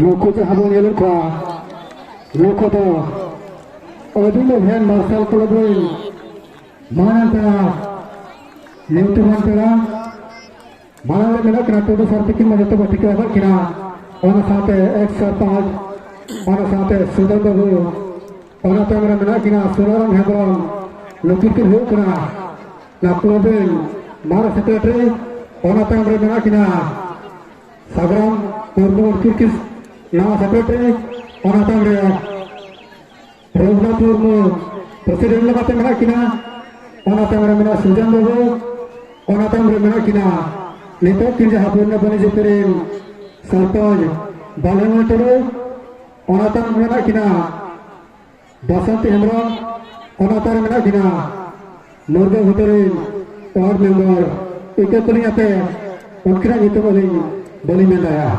ᱱᱩᱠᱩ ᱡᱟᱦᱟᱸ ᱵᱚᱱ ᱧᱮᱞᱮᱫ ᱠᱚᱣᱟ ᱱᱩᱠᱩ ᱫᱚ ᱟᱹᱰᱤ ᱞᱮᱵᱷᱮᱱ ᱢᱟᱨᱥᱟᱞ ᱠᱞᱟᱵᱽ ᱨᱮᱱ ᱢᱟᱨᱟᱝ ᱯᱮᱲᱟ ᱧᱩᱛᱩᱢᱟᱱ ᱯᱮᱲᱟ ᱢᱟᱨᱟᱝ ᱨᱮ ᱢᱮᱱᱟᱜ ᱠᱤᱱᱟ ᱴᱩᱰᱩ ᱥᱟᱨ ᱛᱤᱠᱤᱱ ᱢᱟ ᱡᱚᱛᱚ ᱵᱚ ᱴᱷᱤᱠᱟᱹ ᱟᱠᱟᱫ ᱠᱤᱱᱟ ᱚᱱᱟ ᱥᱟᱶᱛᱮ ᱮᱠ ᱥᱟᱨᱯᱟᱸᱪ ᱚᱱᱟ ᱥᱟᱶᱛᱮ ᱥᱩᱫᱷᱤᱨ ᱵᱟᱹᱵᱩ ᱚᱱᱟ ᱛᱟᱭᱚᱢ ᱨᱮ ᱢᱮᱱᱟᱜ ᱠᱤᱱᱟ ᱥᱩᱱᱟᱨᱟᱢ ᱦᱮᱢᱵᱨᱚᱢ ᱱᱩᱠᱤᱱ ᱠᱤᱱ ᱦᱩᱭᱩᱜ ᱠᱟᱱᱟ ᱱᱟ ᱠᱞᱚᱵᱮᱞ ᱢᱟᱨ ᱥᱮᱠᱨᱮᱴᱟᱨᱤ ᱚᱱᱟ ᱛᱟᱭᱚᱢ ᱨᱮ ᱢᱮᱱᱟᱜ ᱠᱤᱱᱟ ᱥᱟᱜᱨᱟᱢ ᱢᱩᱨᱢᱩ ᱩᱱᱠᱤᱱ ᱠᱤᱱ ᱱᱟᱣᱟ ᱥᱮᱠᱨᱮᱴᱟᱨᱤ ᱚᱱᱟ ᱛᱟᱭᱚᱢ ᱨᱮ ᱨᱚᱜᱷᱩᱱᱟᱛᱷ ᱢᱩᱨᱢᱩ ᱯᱨᱮᱥᱤᱰᱮᱱᱴ ᱞᱮᱠᱟᱛᱮ ᱢᱮᱱᱟᱜ ᱠᱤᱱᱟ ᱚᱱᱟ ᱛᱟᱭᱚᱢ ᱨᱮ ᱢᱮᱱᱟᱜ ᱥᱩᱡᱟᱱ ᱵᱟᱹᱵᱩ ᱚᱱᱟ ᱛᱟᱭᱚᱢ ᱨᱮ ᱢᱮᱱᱟᱜ ᱠᱤᱱᱟ ᱱᱤᱛᱚᱜ ᱠᱤᱱ ᱡᱟᱦᱟᱸ ᱵᱚᱱᱱᱟ ᱵᱟᱹᱱᱤᱡ ᱨᱮᱱ ᱥᱚᱨᱯᱚᱧᱡᱽ ᱵᱟᱞᱮᱢᱟ ᱴᱩᱰᱩ ᱚᱱᱟᱛᱟᱱ ᱢᱮᱱᱟᱜ ᱠᱤᱱᱟ ᱵᱟᱥᱚᱱᱛᱤ ᱦᱮᱢᱵᱨᱚᱢ ᱚᱱᱟᱛᱟᱱ ᱢᱮᱱᱟᱜ ᱠᱤᱱᱟ ᱢᱩᱨᱜᱟᱹ ᱜᱷᱩᱴᱩ ᱨᱤᱱ ᱚᱣᱟᱨᱰ ᱢᱮᱢᱵᱚᱨ ᱤᱠᱟᱹ ᱠᱚᱞᱤᱧ ᱟᱯᱮ ᱩᱱᱠᱤᱱᱟᱜ ᱧᱩᱛᱩᱢ ᱟᱹᱞᱤᱧ ᱵᱟᱹᱞᱤᱧ ᱢᱮᱱ ᱫᱟᱲᱮᱭᱟᱜᱼᱟ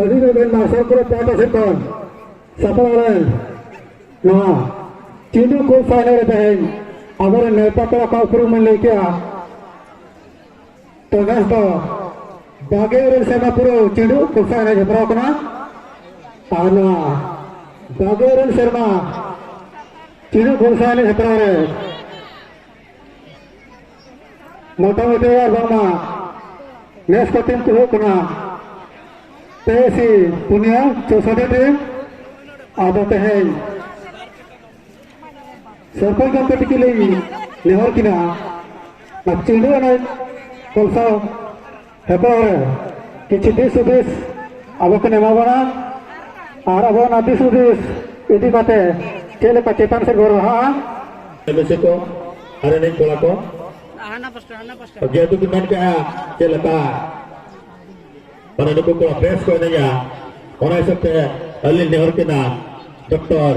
ᱚᱫᱷᱤᱱᱚᱵᱮᱱ ᱢᱟᱨᱥᱟᱞ ᱠᱚᱞᱮᱡᱽ ᱯᱟᱦᱴᱟ ᱥᱮᱫ ᱠᱷᱚᱱ ᱥᱟᱯᱲᱟᱣ ᱞᱮᱱ ᱱᱚᱣᱟ ᱪᱤᱱᱰᱩ ᱠᱷᱳᱞ ᱯᱷᱟᱭᱱᱟᱞ ᱨᱮ ᱛᱮᱦᱮᱧ ᱟᱵᱚᱨᱮᱱ ᱱᱮᱣᱛᱟ ᱯᱮᱲᱟ ᱠᱚᱣᱟᱜ ᱩᱯᱨᱩᱢ ᱞᱟᱹᱭ ᱠᱮᱜᱼᱟ ᱛᱚ ᱱᱮᱥ ᱫᱚ ᱵᱟᱜᱮ ᱤᱨᱟᱹᱞ ᱥᱮᱨᱢᱟ ᱯᱩᱨᱟᱹ ᱪᱤᱱᱰᱩ ᱠᱷᱳᱞ ᱯᱷᱟᱭᱱᱟᱞ ᱦᱮᱯᱨᱟᱣ ᱠᱟᱱᱟ ᱟᱨ ᱱᱚᱣᱟ ᱵᱟᱜᱮ ᱤᱨᱟᱹᱞ ᱥᱮᱨᱢᱟ ᱪᱤᱱᱰᱩ ᱠᱷᱳᱞ ᱯᱷᱟᱭᱱᱟᱞ ᱦᱮᱯᱨᱟᱣ ᱨᱮ ᱢᱳᱴᱟᱢᱩᱴᱤ ᱟᱨ ᱵᱟᱝᱢᱟ ᱱᱮᱥ ᱠᱚ ᱴᱤᱢ ᱠᱚ ᱦᱩᱭᱩᱜ ᱠᱟᱱᱟ ᱛᱮᱭᱥᱤ ᱯᱩᱱᱭᱟ ᱪᱳᱥᱚᱴᱤ ᱴᱤᱢ ᱟᱫᱚ ᱛᱮᱦᱮᱧ ᱥᱚᱨᱯᱚᱧ ᱜᱚᱢᱠᱮ ᱛᱤᱠᱤ ᱞᱤᱧ ᱱᱮᱦᱚᱨ ᱠᱤᱱᱟ ᱪᱤᱸᱰᱩ ᱮᱱᱮᱡ ᱠᱚᱞᱥᱟᱣ ᱦᱮᱯᱨᱟᱣ ᱠᱤᱪᱷᱩ ᱫᱤᱥ ᱦᱩᱫᱤᱥ ᱟᱵᱚ ᱠᱚ ᱮᱢᱟ ᱵᱚᱱᱟ ᱟᱨ ᱟᱵᱚ ᱚᱱᱟ ᱫᱤᱥ ᱦᱩᱫᱤᱥ ᱤᱫᱤ ᱠᱟᱛᱮ ᱪᱮᱫ ᱞᱮᱠᱟ ᱪᱮᱛᱟᱱ ᱥᱮᱫ ᱵᱚᱱ ᱞᱟᱦᱟᱜᱼᱟ ᱵᱮᱥᱤ ᱠᱚ ᱟᱨ ᱮᱱᱮᱡ ᱠᱚᱲᱟ ᱠᱚ ᱡᱮᱦᱮᱛᱩ ᱠᱚ ᱢᱮᱱ ᱠᱮᱜᱼᱟ ᱪᱮᱫ ᱞᱮᱠᱟ ᱢᱟᱱᱮ ᱱᱩᱠᱩ ᱠᱚᱲᱟ ᱵᱮᱥ ᱠᱚ ᱮᱱᱮᱡᱟ ᱚᱱᱟ ᱦᱤᱥᱟᱹᱵ ᱛᱮ ᱟᱹᱞᱤᱧ ᱱᱮᱦᱚᱨ ᱠᱤᱱᱟ ᱰᱚᱠᱴᱚᱨ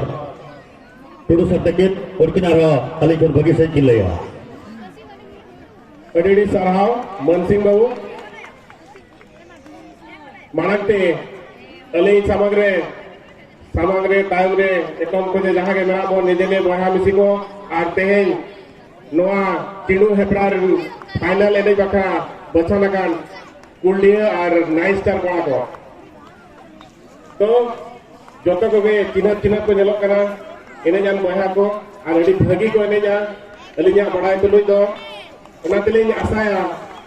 ᱴᱩᱰᱩ ᱥᱟᱨ ᱛᱟᱹᱠᱤᱱ ᱩᱱᱠᱤᱱ ᱟᱨᱦᱚᱸ ᱟᱹᱞᱤᱧ ᱠᱷᱚᱱ ᱵᱷᱟᱹᱜᱤ ᱥᱟᱺᱦᱤᱡ ᱠᱤᱱ ᱞᱟᱹᱭᱟ ᱟᱹᱰᱤ ᱟᱹᱰᱤ ᱥᱟᱨᱦᱟᱣ ᱢᱟᱱᱥᱤᱝ ᱵᱟᱹᱵᱩ ᱢᱟᱲᱟᱝ ᱛᱮ ᱟᱹᱞᱤᱧ ᱥᱟᱢᱟᱝ ᱨᱮ ᱥᱟᱢᱟᱝ ᱨᱮ ᱛᱟᱭᱚᱢ ᱨᱮ ᱮᱛᱚᱢ ᱠᱚ ᱡᱮ ᱡᱟᱦᱟᱸ ᱜᱮ ᱢᱮᱱᱟᱜ ᱵᱚᱱ ᱱᱤᱡᱮᱞᱮ ᱵᱚᱭᱦᱟ ᱢᱤᱥᱤ ᱠᱚ ᱟᱨ ᱛᱮᱦᱮᱧ ᱱᱚᱣᱟ ᱪᱤᱰᱩ ᱦᱮᱯᱨᱟᱣ ᱨᱮᱱ ᱯᱷᱟᱭᱱᱟᱞ ᱮᱱᱮᱡ ᱵᱟᱠᱷᱨᱟ ᱵᱟᱪᱷᱟᱱ ᱟᱠᱟᱱ ᱠᱩᱞᱰᱤᱭᱟᱹ ᱟᱨ ᱱᱟᱭᱤᱱ ᱥᱴᱟᱨ ᱠᱚᱲᱟ ᱠᱚ ᱛᱚ ᱡᱚᱛᱚ ᱠᱚᱜᱮ ᱪᱤᱱᱦᱟᱹᱯ ᱪᱤᱱᱦᱟᱹᱯ ᱠᱚ ᱧᱮᱞᱚᱜ ᱠᱟᱱᱟ ᱮᱱᱮᱡᱟᱱ ᱵᱚᱭᱦᱟ ᱠᱚ ᱟᱨ ᱟᱹᱰᱤ ᱵᱷᱟᱹᱜᱤ ᱠᱚ ᱮᱱᱮᱡᱟ ᱟᱹᱞᱤᱧᱟᱜ ᱵᱟᱲᱟᱭ ᱛᱩᱞᱩᱡ ᱫᱚ ᱚᱱᱟ ᱛᱮᱞᱤᱧ ᱟᱥᱟᱭᱟ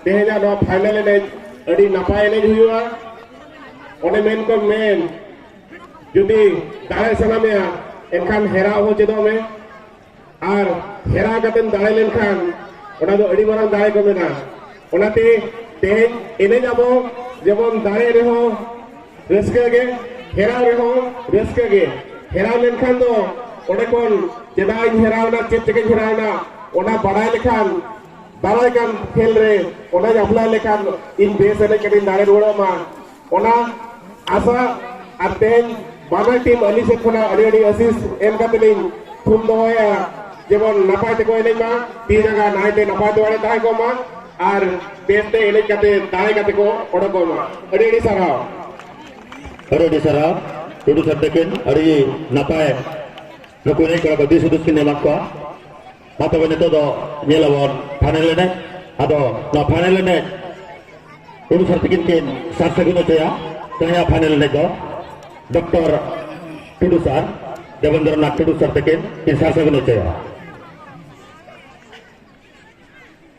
ᱛᱮᱦᱮᱧᱟᱜ ᱱᱚᱣᱟ ᱯᱷᱟᱭᱱᱟᱞ ᱮᱱᱮᱡ ᱟᱹᱰᱤ ᱱᱟᱯᱟᱭ ᱮᱱᱮᱡ ᱦᱩᱭᱩᱜᱼᱟ ᱚᱱᱮ ᱢᱮᱱ ᱠᱚ ᱢᱮᱱ ᱡᱩᱫᱤ ᱫᱟᱲᱮ ᱥᱟᱱᱟ ᱢᱮᱭᱟ ᱮᱱᱠᱷᱟᱱ ᱦᱮᱨᱟᱣ ᱦᱚᱸ ᱪᱮᱫᱚᱜ ᱢᱮ ᱟᱨ ᱦᱮᱨᱟ ᱠᱟᱛᱮᱢ ᱫᱟᱲᱮ ᱞᱮᱱᱠᱷᱟᱱ ᱚᱱᱟ ᱫᱚ ᱟᱹᱰᱤ ᱢᱟᱨᱟᱝ ᱫᱟᱲᱮ ᱠᱚ ᱢᱮᱱᱟ ᱚᱱᱟᱛᱮ ᱛᱮᱦᱮᱧ ᱮᱱᱮᱡ ᱟᱵᱚ ᱡᱮᱢᱚᱱ ᱫᱟᱲᱮ ᱨᱮᱦᱚᱸ ᱨᱟᱹᱥᱠᱟᱹ ᱜᱮ ᱦᱮᱨᱟᱣ ᱨᱮᱦᱚᱸ ᱨᱟᱹᱥᱠᱟᱹ ᱜᱮ ᱦᱮᱨᱟᱣ ᱞᱮᱱᱠᱷᱟᱱ ᱫᱚ ᱚᱸᱰᱮ ᱠᱷᱚᱱ ᱪᱮᱫᱟᱜ ᱤᱧ ᱦᱮᱨᱟᱣᱱᱟ ᱪᱮᱫ ᱛᱮᱜᱮᱧ ᱦᱮᱨᱟᱣᱱᱟ ᱚᱱᱟ ᱵᱟᱲᱟᱭ ᱞᱮᱠᱷᱟᱱ ᱫᱟᱨᱟᱭ ᱠᱟᱱ ᱠᱷᱮᱞ ᱨᱮ ᱚᱱᱟᱧ ᱟᱯᱞᱟᱭ ᱞᱮᱠᱷᱟᱱ ᱤᱧ ᱵᱮᱥ ᱮᱱᱮᱡ ᱠᱟᱛᱮᱧ ᱫᱟᱲᱮ ᱨᱩᱣᱟᱹᱲᱚᱜ ᱢᱟ ᱚᱱᱟ ᱟᱥᱟ ᱟᱨ ᱛᱮᱦᱮᱧ ᱵᱟᱱᱟᱨ ᱴᱤᱢ ᱟᱹᱞᱤᱧ ᱥᱮᱫ ᱠᱷᱚᱱᱟᱜ ᱟᱹᱰᱤ ᱟᱹᱰᱤ ᱟᱹᱥᱤᱥ ᱮᱢ ᱠᱟᱛᱮ ᱞᱤᱧ ᱛᱷᱩᱢ ᱫᱚᱦᱚᱭᱟ ᱡᱮᱢᱚᱱ ᱱᱟᱯᱟᱭ ᱛᱮᱠᱚ ᱮᱱᱮᱡ ᱢᱟ ᱛᱤ ᱡᱟᱸᱜᱟ ᱱᱟᱭᱛᱮ ᱱᱟᱯᱟᱭ ᱫᱚᱣᱟᱲᱮ ᱛᱟᱦᱮᱸ ᱠᱚᱜ ᱢᱟ ᱟᱨ ᱵᱮᱥᱛᱮ ᱮᱱᱮᱡ ᱠᱟᱛᱮ ᱫᱟᱲᱮ ᱠᱟᱛᱮ ᱠᱚ ᱚᱰᱚᱠᱚᱜ ᱢᱟ ᱟᱹᱰᱤ ᱟᱹᱰᱤ ᱥᱟᱨᱦᱟᱣ ᱟᱹᱰᱤ ᱟᱹᱰᱤ ᱥᱟᱨᱦᱟᱣ ᱴᱩᱰᱩ ᱥᱟᱨ ᱛᱟᱹᱠᱤᱱ ᱟᱹᱰᱤ ᱱᱟᱯᱟᱭ ᱱᱩᱠᱩ ᱮᱱᱮᱡ ᱠᱚᱲᱟ ᱠᱚ ᱫᱤᱥ ᱦᱩᱫᱤᱥ ᱠᱤᱱ ᱮᱢᱟᱫ ᱠᱚᱣᱟ ᱢᱟ ᱛᱚᱵᱮ ᱱᱤᱛᱚᱜ ᱫᱚ ᱧᱮᱞ ᱟᱵᱚᱱ ᱯᱷᱟᱭᱱᱮᱞ ᱮᱱᱮᱡ ᱟᱫᱚ ᱱᱚᱣᱟ ᱯᱷᱟᱭᱱᱮᱞ ᱮᱱᱮᱡ ᱩᱱᱤ ᱥᱟᱨ ᱛᱤᱠᱤᱱ ᱠᱤᱱ ᱥᱟᱨ ᱥᱟᱹᱜᱩᱱ ᱦᱚᱪᱚᱭᱟ ᱛᱮᱦᱮᱧᱟᱜ ᱯᱷᱟᱭᱱᱮᱞ ᱮᱱᱮᱡ ᱫᱚ doctor Tudu sir Debendra Nath Tudu sir ᱛᱤᱠᱤᱱ ᱠᱤᱱ ᱥᱟᱨ ᱥᱟᱹᱜᱩᱱ ᱦᱚᱪᱚᱭᱟ